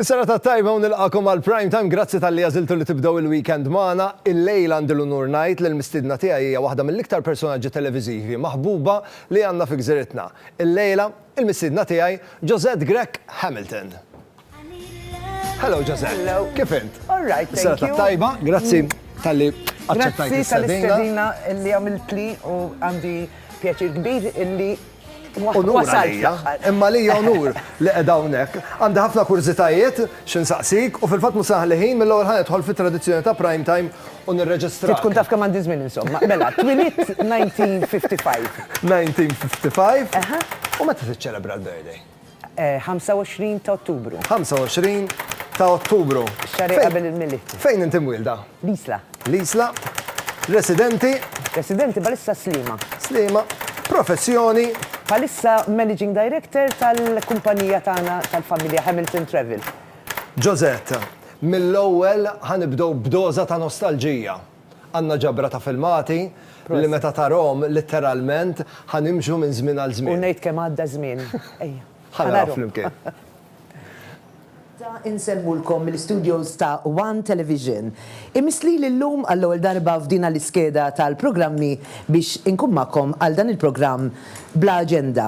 Is-sena ta' tajba u nilqakom għal prime time, grazzi tal-li għaziltu li tibdaw il-weekend maħna, il-lejl għandi l-unur najt li l-mistidna tiegħi hija waħda mill-iktar personaġġi televiżivi maħbuba li għandna fi gżiritna. Il-lejla, il-mistidna tiegħi, Josette Grech Hamilton. Hello, Jose. Hello. Kif int? All right, thank you. Sena tajba, grazzi mm. tal-li għacċettajt l-istedina. li għamilt li u għandi pjaċir kbir illi Unur għalija, imma li unur li għedawnek. Għandi ħafna kurzitajiet, xin saqsik, u fil-fat musaħ liħin mill-għol ħanet tħol fit tradizjoni ta' prime time u nirreġistra. Tkun taf kemm għandi żmien insomma. Mela, twilit 1955. 1955? U meta tiċċelebra l-birthday? 25 ta' Ottubru. 25 ta' Ottubru. Ix-xahar li qabel il-Milied. Fejn inti mwielda? L-Isla. L-Isla. Residenti? Residenti bħalissa Sliema. Sliema. Professjoni? Bħalissa Managing Director tal-kumpanija tagħna tal-familja Hamilton Travel. Josette, mill-ewwel ħa nibdew b'doża ta' nostalġija. Għandna ġabra ta' filmati li meta tarahom litteralment ħa nimxu minn żmien għal żmien. U ngħid kemm għadda żmien. Ejja. Ħa naraw flimkien. Ta' insemmulkom mill-istudios ta' one Television. Imiss lili llum għall-ewwel darba f'dina l-iskeda tal-programmi biex inkun magħkom għal dan il-programm bla aġenda.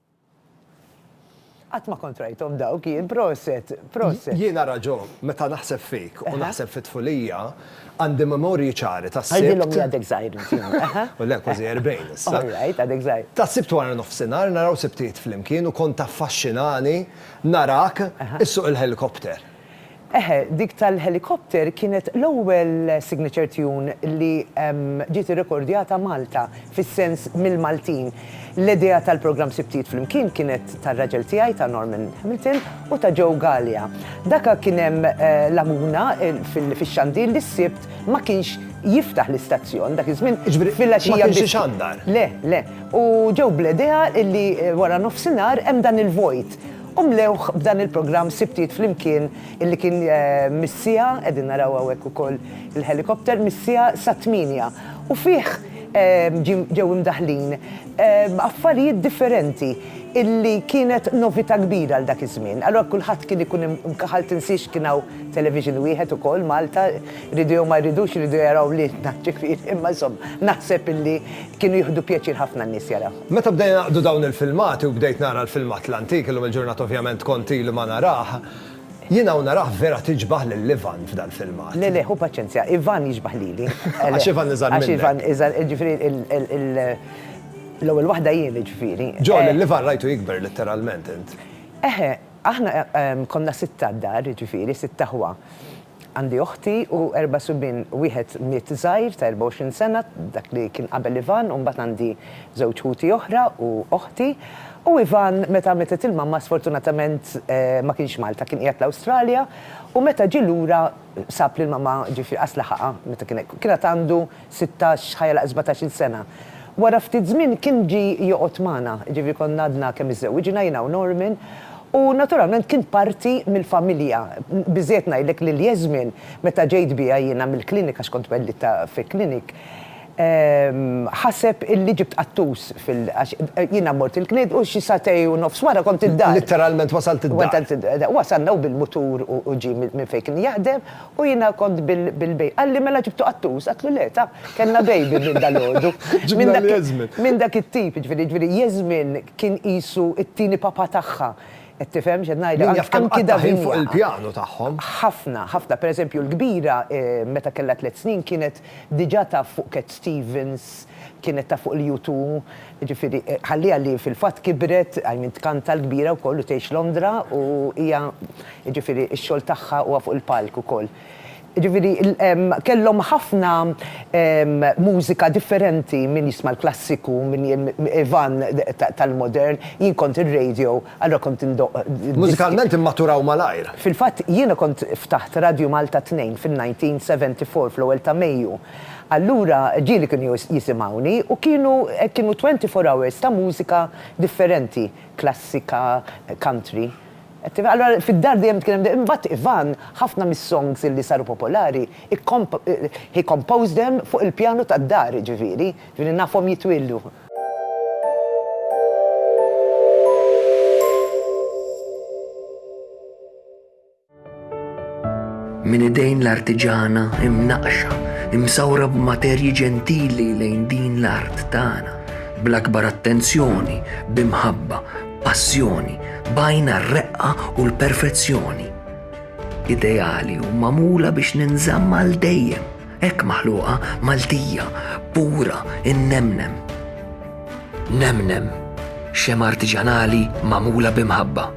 Qatt ma kont rajthom dawk jien, proset, proset. Jiena Raġo, meta naħseb fik u naħseb fit-tfulija, għandi memorji ċari tas-Sibt. Għidilhom li għadek żgħir int jien. Le, kważi erbgħin issa. All right, għadek żgħir. Tas-Sibt wara nofsinhar naraw Sibtijiet flimkien u kont taffaxxinani narak issuq il-ħelikopter. Eħe, dik tal-helicopter kienet l-ewwel signature tune li ġiet irrekordjata Malta, fis-sens mill-Maltin. L-idea tal-programm Sibtijiet Flimkien kienet tar-raġel tiegħi, ta' Norman Hamilton, u ta' Joe Galea. Daka kien hemm laguna fix-xandir li s-Sibt ma kienx jiftaħ l-istazzjon, dak iż-żmien filgħaxija biss. Jiġifieri ma kienx ixandar? Le, le. U ġew bl-idea li wara nofsinhar hemm dan il-vojt. U mlewh b'dan il-programm Sibtiet Flimkien illi kien mis-siegħa, qegħdin naraw hawnhekk ukoll il-helicopter, mis-siegħa sat-tmienja. U fih ġew imdaħħlin affarijiet differenti illi kienet novità kbira għal dak iż-żmien. Allura kulħadd kien ikun imkaħħal, tinsiex kien hawn television wieħed ukoll Malta, jridu jew ma jridux jridu jaraw lilna ġifieri, imma insomma naħseb illi kienu jieħdu pjaċir ħafna n-nies jarawh. Meta bdejna naqdu dawn il-filmati u bdejt nara l-filmat l-antik, illum il-ġurnata ovvjament kont ilu ma narah, jiena u narah vera tiġbah lil Ivan f'dal-filmat. Le le, ħu paċenzja, Ivan jiġbah lili. Għax Ivan iżgħar minnek. Għax Ivan iżgħar, jiġifieri l-ewwel waħda jien jiġifieri. Joe, lil Ivan rajtu jikber litteralment int. Eħe, aħna konna sitta d-dar, jiġifieri sitt aħwa. Għandi oħti u erba' subien, wieħed miet żgħir ta' 24 sena, dak li kien qabel Ivan, u mbagħad għandi żewġ ħuti oħra u oħti. U Ivan meta mietet il-mamma sfortunatament ma kienx Malta, kien qiegħed l-Awstralja, u meta ġie lura sab lill-mamma, ġifieri qas laħaqha meta kien hekk. Kien għad għandu sittax, ħa jagħlaq sbatax-il sena. Wara ftit żmien kien ġie joqgħod magħna, jiġifieri konna għadna kemm iżżewwiġna, jiena u Norman, u naturalment kien parti mill-familja. Biżżejjed ngħidlek li Yasmin, meta ġejt biha jiena mill-clinic, għax kont twellidtha fi clinic, ħaseb illi ġibt qattus fil-, għax jiena mort il-clinic u xi sagħtej u nofs wara kont id-dar. Litteralment wasalt id-dar. Wasalna hu bil-mutur u ġie minn fejn kien jaħdem. U jiena kont bil-baby. Qalli mela ġibtu qattus? Għedtlu le, ta, kellna baby minn dalgħodu. Ġibna lil Yasmin. Minn dak it-tip, jiġifieri, jiġifieri Yasmin kien qisu t-tieni papà tagħha. Qed tifhem x'qed ngħidlek? Min jaf kemm qattgħet ħin fuq il-pjanu tagħhom. Ħafna, ħafna. Per eżempju, l-kbira meta kellha tliet snin kienet diġà taf fuq Cat Stevens, kienet taf fuq il-U2. Jiġifieri ħalliha li fil-fatt kibret, I mean tkanta l-kbira wkoll u tgħix Londra u hija jiġifieri x-xogħol tagħha huwa fuq il-palk ukoll. Jiġifieri kellhom ħafna mużika differenti, min jisma' l-klassiku, min Ivan tal-modern, jien kont ir-radio, allura kont indoqq diski. Mużikalment immaturaw malajr. Fil-fatt jiena kont ftaħt Radio Malta Tnejn fin-1974 fl-ewwel ta' Mejju. Allura ġieli kienu jisimgħuni u kienu kienu twenty four hours ta' mużika differenti, klassika, country. Qed tifhem? Allura fid-dar dejjem kien hemm imbagħad Ivan ħafna mis-songs illi saru popolari he composed them fuq il-pjanu tad-dar jiġifieri, jiġifieri nafhom jitwieldu. Minn idejn l-artiġana imnaqxa, imsawra b'materji ġentili lejn din l-art tagħna, bl-akbar attenzjoni, b'imħabba, passjoni, bajna r-reqqa u l-perfezzjoni. Ideali u mamula biex ninżamm għal dejjem, hekk maħluqa Maltija, pura, innemnem. Nemnem, xem artiġanali mamula b'imħabba.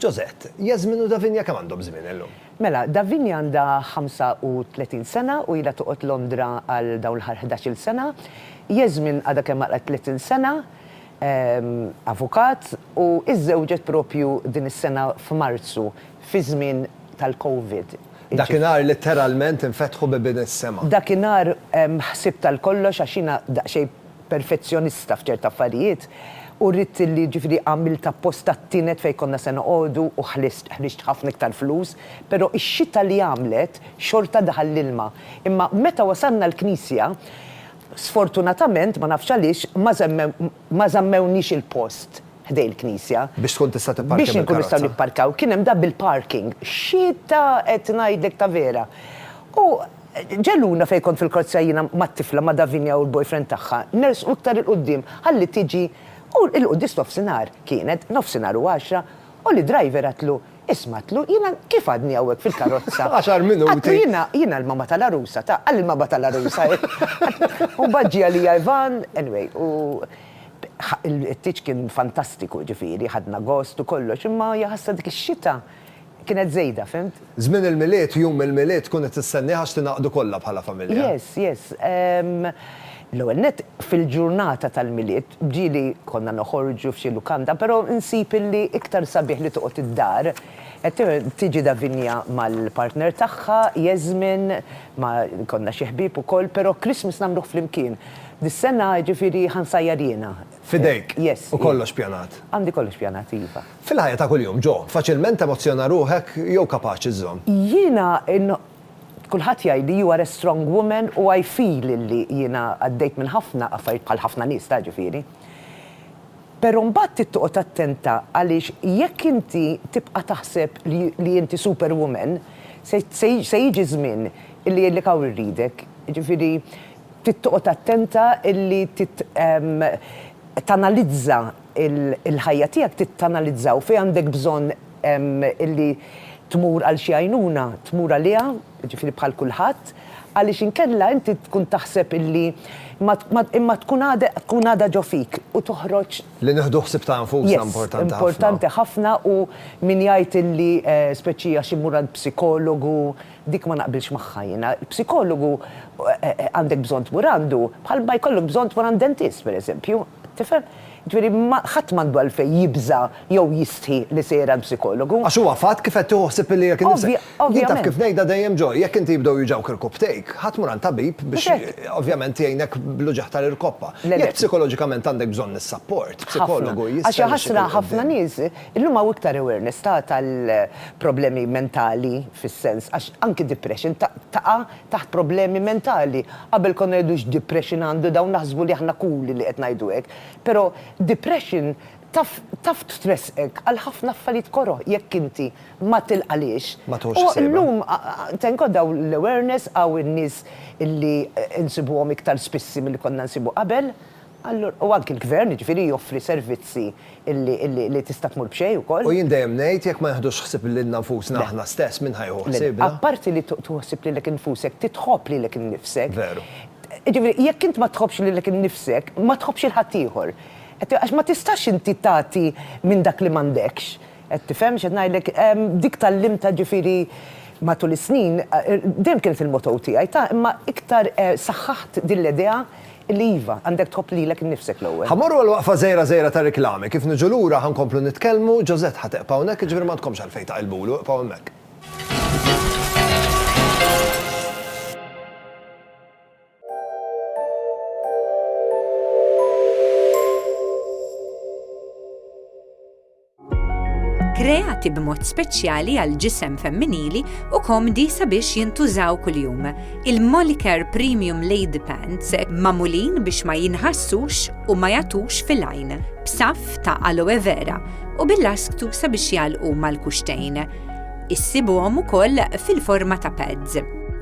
Josette, Jasmin u Davinia kemm għandhom żmien illum? Mela, Davinia għandha 35 sena u ilha toqgħod Londra għal dawn l-aħħar ħdax-il sena. Jasmin għadha kemm għalqet 30 sena, avukat, u iżżewġet proprju din is-sena f'Marzu, fiż-żmien tal-Covid. Dakinhar litteralment infetħu bibien is-sema. Dakinhar ħsibt għal kollox għax jiena daqsxejn perfezzjonista f'ċert affarijiet u rrid li ġifieri għamilt apposta t-tienet fejn konna se noqogħdu u ħlist, ħriġt ħafna iktar flus, però ix-xita li għamlet xorta daħal l-ilma. Imma meta wasalna l-knisja, sfortunatament, ma nafx għaliex, ma żemmew, ma żammewniex il-post ħdejn il-knisja. Biex tkun tista' tipparkja bil-karozza. Biex inkunu nistgħu nipparkaw. Kien hemm da bil-parking. Xita qed ngħidlek ta' vera. U. Ġeluna fejn kont fil-korzja jiena mat-tifla ma' Davinia u l-boyfriend tagħha, nersqu iktar 'il quddiem ħalli tiġi u 'il quddis nofsinhar, kienet nofsinhar u għaxra, u l-idriver għadtlu, isma' għadtlu, jiena kif għadni hawnhekk fil-karozza? Għaxar minuti! Għadtlu jiena, jiena l-mamma tal-għarusa, ta, qalli l-mamma tal-għarusa hi. U mbagħad ġie għalija Ivan, anyway, u il-ħtieġ kien fantastiku, jiġifieri ħadna gost u kollox, imma hija ħassha dik ix-xita kienet żejda, fhimt? Żmien il-Milied, jum il-Milied tkun qed tistennieh għax tingħaqdu kollha bħala familja. Yes, yes. L-ewwel nett, fil-ġurnata tal-Milied, ġieli konna noħorġu f'xi lukanda, però nsib illi iktar sabiħ li toqgħod id-dar, tiġi Davinia mal-partner tagħha, Yasmin, ma' konna xi ħbieb ukoll, però Christmas nagħmluh flimkien. Dis-sena, jiġifieri, ħa nsajjar jiena. F'idejk? Yes. U kollox pjanat? Għandi kollox pjanat, iva. Fil-ħajja ta' kuljum, Joe, faċilment temozzjona ruħek jew kapaċi żżomm? Jiena n. Kulħadd jgħidli you are a strong woman u I feel illi jiena għaddejt minn ħafna affarijiet bħal ħafna nies ta' ġifieri. Però mbagħad trid toqgħod attenta għaliex jekk inti tibqa' taħseb li inti super woman se jiġi żmien illi jgħidlek hawn irridek. Jiġifieri trid toqgħod attenta illi tanalizza il-ħajja tiegħek trid tanalizza u fejn għandek bżonn illi tmur għal xi għajnuna, tmur għaliha, jiġifieri bħal kulħadd, għaliex inkella inti tkun taħseb illi imma tkun għadha ġo fik u toħroġ. Li nieħdu ħsieb ta' nfusna importanti ħafna. Importanti ħafna u min jgħid illi speċi għax immur għand psikologu, Dik ma naqbilx magħha jiena. Psikologu għandek bżonn tmur għandu bħal ma jkollok bżonn tmur għand dentist, pereżempju. Tifhem? Jiġifieri ħadd m'għandu għalfejn jibża' jew jistħi li sejjer għand psikologu. Għax huwa fatt kif qed tieħu ħsieb lilek innifsek. Ovvja, ovvjament. Jien taf kif ngħidha dejjem Joy, jekk inti jibdew juġgħuk irkopptejk, ħa tmur għand tabib biex ovvjament jgħinek bl-uġigħ tal-irkoppa. Jekk psikoloġikament għandek bżonn is-sapport, psikologu jista' jmexxik 'il quddiem. Ħafna. Għax hija ħasra ħafna nies Illum hawn iktar awareness ta' tal-problemi mentali fis-sens għax anki depression taqa' taħt problemi mentali. Qabel konna ngħidu x'depression għandu dawn naħsbu li aħna cool li qed ngħidu hekk. Però depression taf taf tressqek għal ħafna affarijiet koroh jekk inti ma tilqalhiex. Ma tħossx sejba. U illum thank God hawn l-awareness hawn in-nies illi insibuhom iktar spissi milli konna nsibu qabel. Allura, u anki l-Gvern, jiġifieri, joffri servizzi li tista' tmur b'xejn ukoll. U jien dejjem ngħid, jekk ma nieħdux ħsieb lilna nfusna aħna stess, min ħa jieħu ħsiebna? Le, apparti li tieħu ħsieb lilek infusek, titħobb lilek innifsek. Veru. Jiġifieri, jekk int ma tħobbx lilek innifsek, ma tħobbx 'il ħaddieħor. Qed, għax ma tistax inti tagħti minn dak li m'għandekx. Qed tifhem x'qed ngħidlek? Dik tgħallimtha ġifieri matul is-snin, dejjem kienet il-motto tiegħi, ta' imma iktar saħħaħt din l-idea li iva, għandek tħobb lilek innifsek l-ewwel. Ħa mmorru għal waqfa żgħira żgħira ta' riklami, kif niġu lura ħa nkomplu nitkellmu, Josette ħa teqpa' hawnhekk, jiġifieri m'għandkomx għalfejn taqilbulu, iqfgħu hemmhekk. kreati b'mod speċjali għal ġisem femminili u komdi sabiex jintużaw kuljum. Il-Molicare Premium Lady Pants mamulin biex ma jinħassux u ma jatux fil-għajn, b'saf ta' aloe vera u bil-lasktu sabiex jalqu mal-kuxtejn. Issibuhom ukoll fil-forma ta' pads.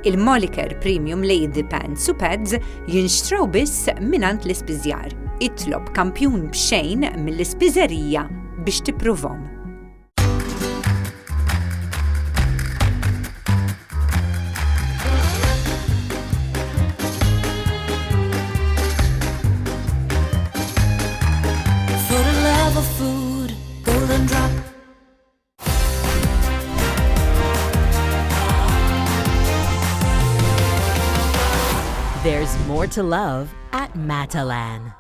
Il-Moliker Premium Lady Pants u Pads jinxtraw biss minant l-ispiżjar. Itlob kampjun b'xejn mill-ispiżerija biex tippruvhom. There's more to love at Matalan.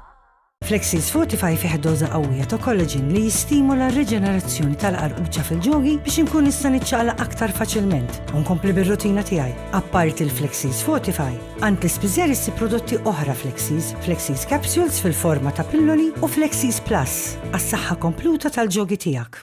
Flexil Fortify fih doża qawwija ta' kollaġin li jistimula r-riġenerazzjoni tal-qarquċa fil-ġogi biex inkun nista' niċċaqla aktar faċilment u nkompli bir-rutina tiegħi. Apparti l-Flexil Fortify, għand l-ispiżer issi prodotti oħra Flexis, Flexis Capsules fil-forma ta' pilloli u Flexis Plus għas-saħħa kompluta tal-ġogi tiegħek.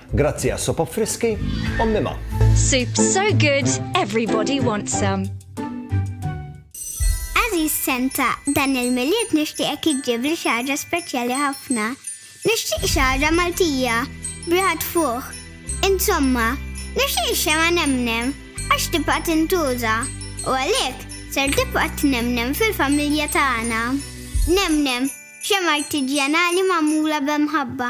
Grazzi għas-sopa friski, ommi ma. Soup so good, everybody wants some. Aziz Senta, dan il-miliet nixtieqek iġġib li xaġa speċjali ħafna. Nixtieq xaġa Maltija, briħat fuq. Insomma, nixtieq xema nemnem, għax tibqa' tintuża. U għalhekk, ser tibqa' tnemnem fil-familja tagħna. Nemnem, xema artiġjanali magħmula b'imħabba.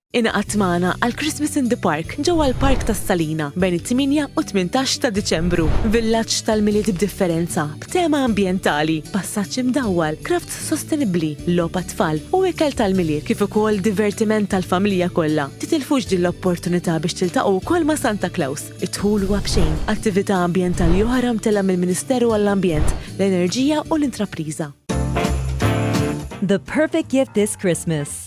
Ingħaqad magħna għal Christmas in the Park ġewwa l-Park tas-Salina bejn it-tmienja u t-tmintax ta' Diċembru. Villaġġ tal-Milied b'differenza, b'tema ambjentali, passaġġ imdawwal, crafts sostenibbli, logħob għat-tfal u ikel tal-Milied kif ukoll divertiment għall-familja kollha. Titilfux din l-opportunità biex tiltaqgħu wkoll ma' Santa Claus. Id-dħul huwa b'xejn. Attività ambjentali oħra mtellgħa mill-Ministeru għall-Ambjent, l-Enerġija u l-Intrapriża. The perfect gift this Christmas.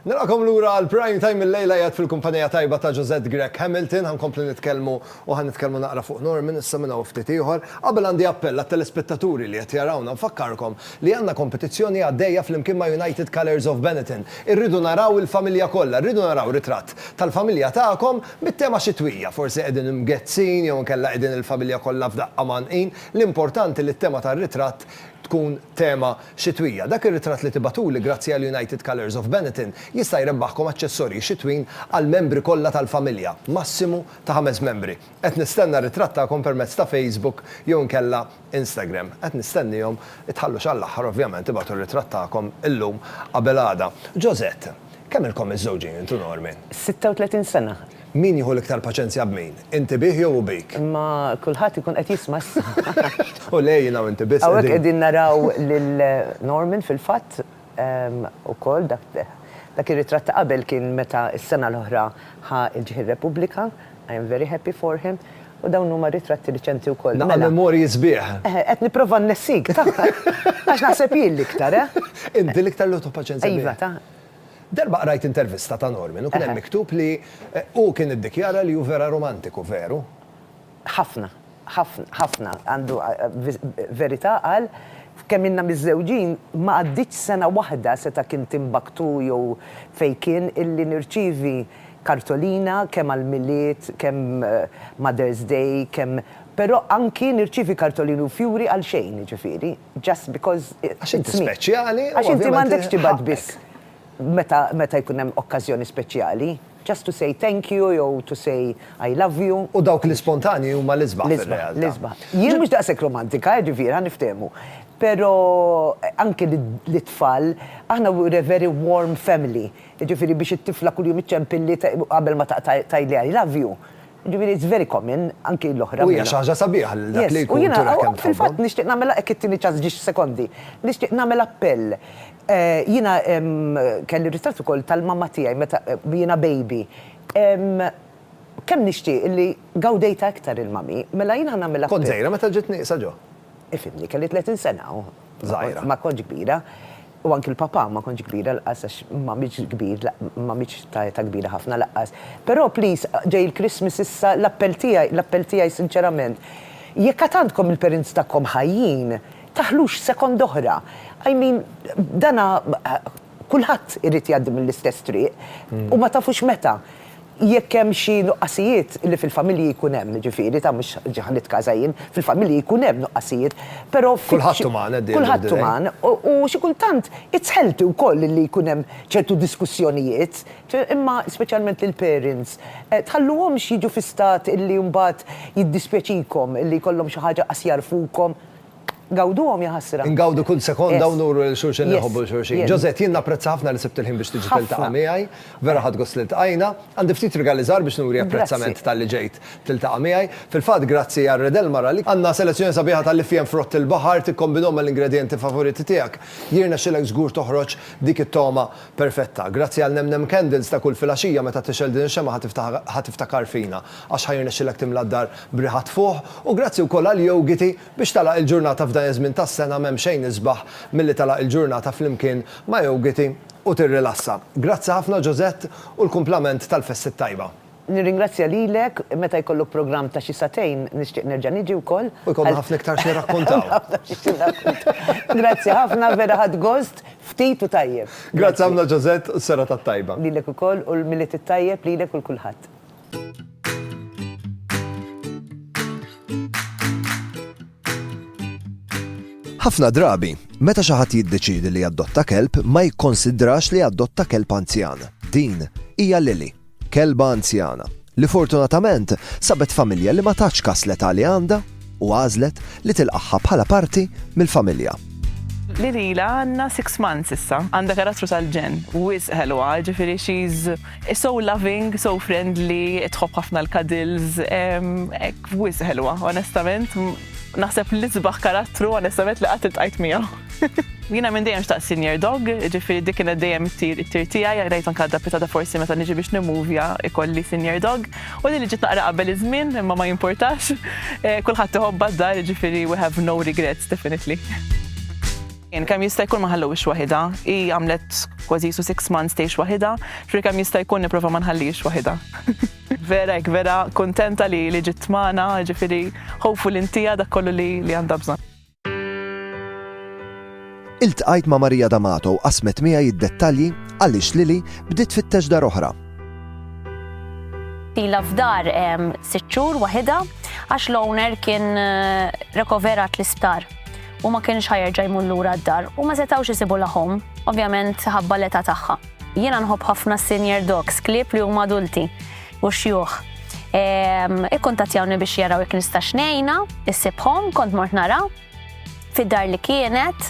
Nilqakom lura għal Prime Time il-lejla jgħad fil-kumpanija tajba ta' Josette Grech Hamilton, ħankomplu nitkellmu u ħan nitkellmu naqra fuq Norman issa minn hawn ftit ieħor. Qabel għandi appell għat-telespettaturi li qed jarawna nfakkarkom li għandna kompetizzjoni għaddejja flimkien ma' United Colours of Benetton. Irridu naraw il-familja kollha, rridu naraw ritratt tal-familja tagħkom bit-tema xitwija, forsi qegħdin imgezzin jew inkella qegħdin il-familja kollha f'daqqa mgħannqin, L-importanti li t-tema tar-ritratt tkun tema xitwija. Dak ir-ritratt li tibagħtuli grazzi għal United Colours of Benetton jista' jrebbaħkom aċċessorji xitwin għall-membri kollha tal-familja, massimu ta' ħames membri. Qed nistenna r-ritratt tagħkom permezz ta' Facebook jew inkella Instagram. Qed nistennihom, itħallux għall-aħħar ovvjament, ibagħtu r-ritratt tagħkom illum qabel għada. Josette, kemm ilkom miżżewġin int u Norman? 36 sena. Min jieħu l-iktar paċenzja b'min? Inti bih jew hu bik? Imma kulħadd ikun qed jisma' issa. Hu le jiena u inti biss qegħdin. Hawnhekk qegħdin naraw lil Norman fil-fatt ukoll dak dak ir-ritratt ta' qabel kien meta s-sena l-oħra ħa l-ġħin Repubblika, I am very happy for him, u dawn huma ritratti riċenti wkoll. Naqra memorji sbieħ. Eħe, qed nipprova nnessik, ta! Għax naħseb jien l-iktar, eh! Inti l-iktar li hu paċenzja bih. Iva, ta! Darba qrajt intervista ta' Norman u kien hemm miktub li hu kien iddikjara li hu vera romantiku, veru? Ħafna. Ħafna. Ħafna. Għandu verità qal, f'kemm ilna miżżewġin ma għaddietx sena waħda seta' kien Timbuktu jew fejn kien illi nirċievi kartolina kemm għall-Milied, kemm Mother's Day, kemm però anki nirċievi kartolini u fjuri għalxejn jiġifieri. Just because it's me. Għax inti speċjali. Għax inti m'għandekx tibgħat biss meta jkun hemm okkażjoni speċjali. Just to say thank you jew to say I love you. U dawk l-ispontanji huma l-isbaħ fir-realtà. L-isbaħ. Jien mhux daqshekk romantika, ġifieri ħa niftehmu. Però anke lit-tfal, aħna we're a very warm family. Jiġifieri biex it-tifla kuljum iċċempilli qabel ma taqta' tgħidli I love you. Ġifieri it's very common, anki l-oħra. U hija xi ħaġa sabiħa lil dak li jkun jurek kemm tħobbhom. Yes, u jiena fil-fatt nixtieq nagħmel, jekk ittini ċans ġiex sekondi, nixtieq nagħmel appell. Jiena kelli ritratt ukoll tal-mamma tiegħi meta jiena baby. Kemm nixtieq li gawdejtha iktar il-mummy. Mela jien ħa nagħmel appell. Kont żgħira meta ġiet nieqsa ġo? Ifhimni, kelli 30 sena. Żgħira. Ma kontx kbira. U anki l-Papà ma kontx kbira lqqas għax ma mitx kbir ma mitx ta' età kbira ħafna laqqas. Però please ġej il-Christmas issa l-appell tiegħi l-appell tiegħi sinċerament jekk għad għandkom il-parents tagħkom ħajjin taħlux second oħra I mean dana kulħadd irid jgħaddi mill-istess triq u ma tafux meta. Jekk hemm xi nuqqasijiet li fil-familji jkun hemm, jiġifieri, ta' mhux ġa ħa nitkaża jien, fil-familji jkun hemm nuqqasijiet, però f'xi. Kulħadd uman at the end of the day. Kulħadd uman, u xi kultant it's healthy wkoll li jkun hemm ċertu diskussjonijiet, imma speċjalment lill-parents, tħalluhomx jiġu fi stat illi mbagħad jiddispjaċikom illi jkollhom xi ħaġa qas jagħrfukom, Gawduhom jaħasra. Ngawdu kull sekonda u nuru lil xulxin li nħobbu lil xulxin. Josette, jien napprezza ħafna li sibt il-ħin biex tiġi tiltaqa' miegħi. Vera ħadt gost li ltqajna. Għandi ftit rigali żgħar biex nuri apprezzament talli ġejt tiltaqa' miegħi. Fil-fatt, grazzi għal Redel Mara li. Għandna selezzjoni sabiħa tal-lifien frott il-baħar, tikkombinhom mal-ingredjenti favoriti tiegħek. Jirnexxilek żgur toħroġ dik it-togħma perfetta. Grazzi għal Nem Nem Candles ta' kull filgħaxija meta tixgħel din ix-xemgħa ħa tiftakar fina għax ħa jirnexxilek timla d-dar b'riħa tfuħ u grazzi wkoll għal Yogiti, Biex tagħlaq il-ġurnata f'dan iż-żmien tas-sena m'hemm xejn isbaħ milli tagħlaq il-ġurnata flimkien ma' jogiti u tirrilassa. Grazzi ħafna Josette u l-kumplament tal-festi t-tajba. Nirringrazzja lilek, meta jkollok programm ta' xi sagħtejn nixtieq nerġa' niġi wkoll. U jkollna ħafna iktar xi nirrakkuntaw. Grazzi ħafna, vera ħadt gost, ftit u tajjeb. Grazzi ħafna Josette u s-serata t-tajba. Lilek ukoll u l-Milied it-tajjeb lilek u l-kulħadd. Ħafna drabi, meta xi ħadd jiddeċiedi li jadotta kelb ma jikkonsidrax li jadotta kelb anzjan. Din hija Lili, kelba anzjana, li fortunatament sabet familja li ma tax kas l-età li għandha u għażlet li tilqaħħa bħala parti mill-familja. Lili la għandna 6 months issa, għandha karattru tal-ġen, wisq ħelwa, ġifieri she's So loving, so friendly, tħobb ħafna l-cuddles, ek wis ħelwa, onestament, naħseb li sbaħ karattru, onestament li qatt iltqajt miegħu. Jina minn dejjem xtaq senior dog, ġifiri dik kienet dejjem it-tir it-tir tiegħi, rajt anke dapita ta' forsi meta niġi biex nimuvja ikolli senior dog. U li ġiet naqra qabel iż-żmien, imma ma jimportax. Eh, kulħadd iħobba d-dar, ġifiri we have no regrets definitely. Jien kemm jista' jkun ma ħallewhiex waħidha. Hi għamlet kważi jisu six months tgħix waħidha, ġri kemm jista' jkun nipprova ma nħallix waħidha. Vera hekk vera kuntenta li li ġiet magħna, ġifieri hopeful intiha dak kollu li li għandha bżonn. Iltqajt ma' Maria D'Amato u qasmet miegħi d-dettalji għaliex Lili bdiet tfittex dar oħra. Ilha f'dar sitt xhur waħidha għax l-owner kien rekoverat l-isptar. u ma kienx ħa jerġa' jmur lura d-dar u ma setgħux isibu l ħom, ovvjament ħabba l-età tagħha. Jiena nħobb ħafna s-senior dogs, klieb li huma adulti u xjuħ. Ikkuntattjawni biex jaraw jekk nistax ngħinha, issibhom, kont mort nara fid-dar li kienet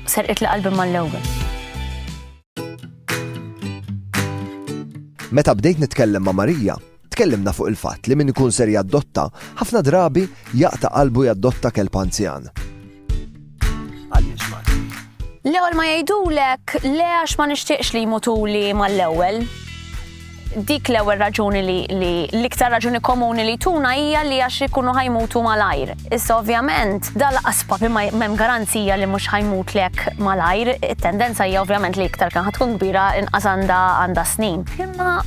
serqitli qalbi mal-ewwel. Meta bdejt nitkellem ma' Marija, Tkellimna fuq il-fatt li min ikun ser jaddotta, ħafna drabi jaqta' qalbu jaddotta kelb anzjan. L-ewwel ma jgħidulek le għax ma nixtieqx li jmutuli mal-ewwel dik l-ewwel raġuni li l-iktar raġuni komuni li tuna hija li għax ikunu ħajmutu malajr. Issa ovvjament dal aspapi ma hemm garanzija li mhux ħajmutlek malajr, it-tendenza hija ovvjament li iktar kan tkun kbira inqas għandha għandha snin. Imma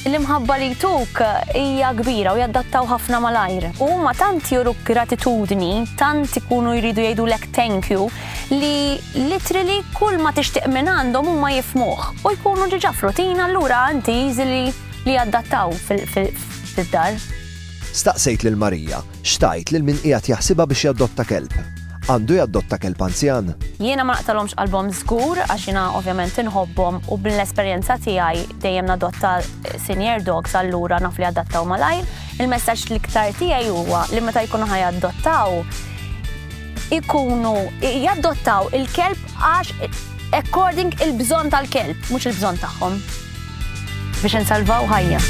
L-imħabba li jtuk hija kbira u jaddattaw ħafna malajr. U huma tant juru gratitudni, tant ikunu jridu jgħidulek thank you, li literally kull ma tixtieq minn għandhom huma jifhmuh u jkunu diġà f'rutina allura inti easily li jaddattaw fid-dar. Staqsejt lil Marija X'tgħid lil min qiegħed jaħsibha biex jadotta kelb? Għandu jadotta kelb anzjan? Jiena ma naqtagħlhomx qalbhom żgur għax jiena ovvjament inħobbhom u mill-esperjenza tiegħi dejjem nadotta senior dogs allura naf li jadattaw malajr. Il-messaġġ l-iktar tiegħi huwa li meta jkunu ħa jaddottaw ikunu jaddottaw il-kelb għax according il-bżonn tal-kelb, mhux il-bżonn tagħhom. Biex insalvaw ħajja.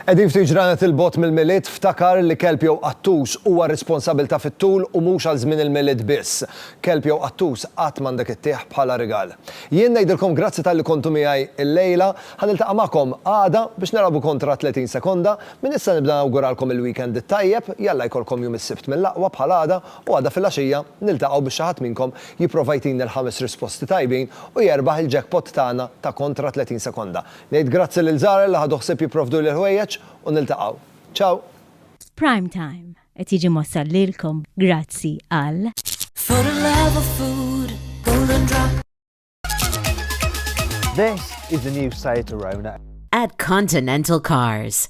Edin ftit ġranet il-bot mill-milied ftakar li kelb jew qattus huwa responsabilta fit-tul u mhux għal żmien il-milied biss. Kelb jew qattus qatt m'għandek ittieħ bħala rigal. Jien ngħidilkom grazzi tal-li kontu miegħi l-lejla, ħan iltaqa' magħkom għada biex narabu kontra 30 sekonda, minn issa nibda nawguralkom il-weekend it-tajjeb, jalla jkollkom jum is-sibt mill-aqwa bħal għada U għada filgħaxija niltaqgħu biex xi ħadd minnkom jipprova jtini l-ħames risposti tajbin u jerbaħ il-jackpot tagħna ta' kontra 30 sekonda. Ngħid grazzi lil Zara li ħadu ħsieb jipprovduli l-ħwejjeġ u niltaqgħu. Ciao! Prime Time qed jiġi mwassal lilkom grazzi għal. For the love of food, golden drop. This is the new Saeterona. At Continental Cars.